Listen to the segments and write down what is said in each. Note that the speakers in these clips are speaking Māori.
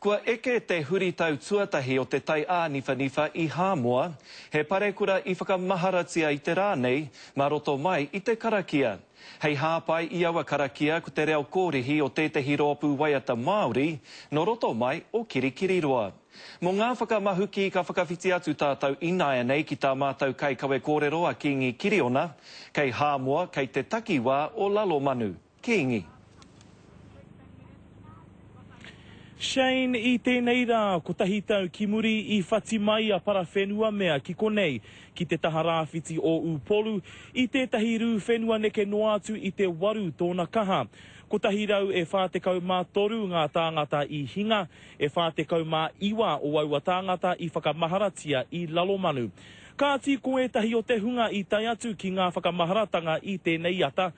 Kua eke te huritau tuatahi o te tai āniwhaniwha i Hāmoa, he parekura i whakamaharatia i te rā nei mā roto mai i te karakia. Hei hāpai i aua karakia ko te reo kōrihi o tētehi rōpū waiata Māori nō roto mai o Kirikiriroa. Mō ngā whakamahuki ka whakawhiti atu tātou ināianei ki tā mātou kaikawe kōrero a Kīngi Kiriona, kei Hāmoa, kei te takiwā o Lalomanu. Kīngi. Shane, I tēnei rā, kotahi tau ki muri, i whati mai a Parawhenua mea ki konei, ki te taha rāwhiti o Upolu, i tētahi rū whenua neke noa atu i te waru tōna kaha. Kotahi rau e whā tekau mā toru ngā tāngata i hinga, e whā tekau mā iwa o aua tāngata i whakamaharatia i Lalomanu. Kāti ko ētahi o te hunga i tae atu ki ngā whakamaharatanga i tēnei ata,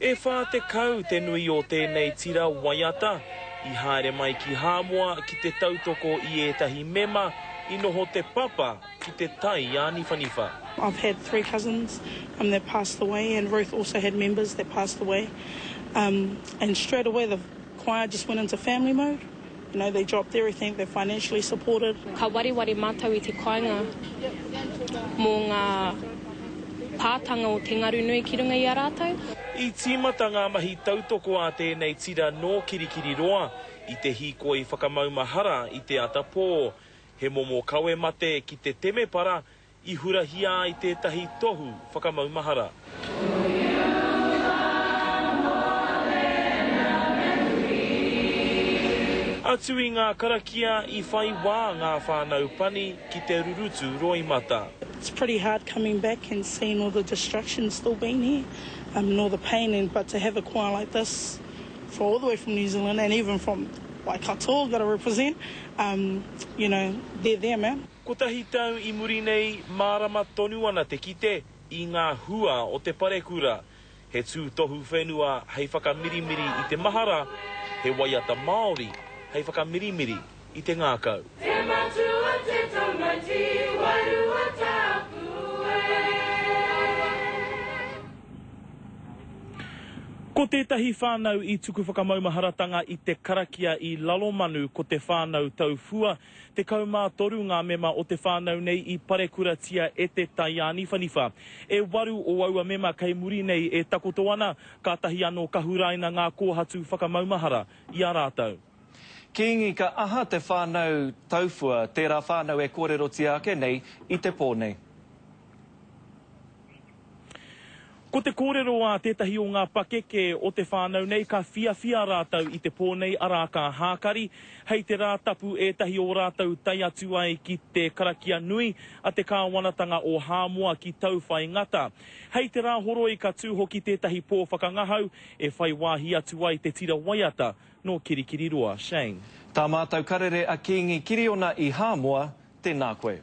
E whā tekau te nui o tēnei tira waiata i haere mai ki Hāmoa ki te tautoko i ētahi mema i noho te papa ki te tai āniwhaniwha. I've had three cousins um that passed away and Ruth also had members that passed away um and straight away the choir just went into family mode. You know, they dropped everything, they're financially supported. Ka wareware mātou i te kāinga mō ngā pātanga o te ngaru nui ki runga i a rātou. I tīmata ngā mahi tautoko a tēnei tira nō Kirikiriroa i te hīkoi whakamaumahara i te ata pō. He momo kawe mate ki te temepara i hurahia ai tētahi tohu whakamaumahara. Atu i ngā karakia i whai wā ngā whānau pani ki te rurutu roimata. It's pretty hard coming back and seeing all the destruction still being here um and all the pain and but to have a koa like this for all the way from New Zealand and even from Waikato gotta represent um you know they're there man. Kotahi tau i muri nei, mārama tonu ana te kite i ngā hua o te parekura. He tūtohu whenua hei whakamirimiri i te mahara, he waiata Māori hei whakamirimiri i te ngākau. Te Matua te taumaiti wai Ruatapu e. Ko tētahi whānau i tuku whakamaumaharatanga i te karakia i Lalomanu ko te whānau Taufua Tekau mā toru ngā mema o te whānau nei i parekuratia e te taiāniwhaniwha. E waru o aua mema kei muri nei e takoto ana, kātahi anō ka huraina ngā kōhatu whakamaumahara i a rātou. Kīngi, ka aha te whānau taufua, tērā whānau e kōrerotia ake nei i te pō nei? Ko te kōrero a tētahi o ngā pakeke o te whānau nei ka whiawhia rātou i te pō nei arā ka hākari hei te rā tapu ētahi o rātou tae atu ai ki te karakia nui a te kāwanatanga o Hāmoa ki Tauwhai Ngata. Hei te rā horoi ka tū hoki tētahi pō whakangahau e whai wāhi atu ai te tira waiata nō Kirikiriroa. Shane. Tā mātou karere a Kīngi Kiriona i Hāmoa, tēnā koe.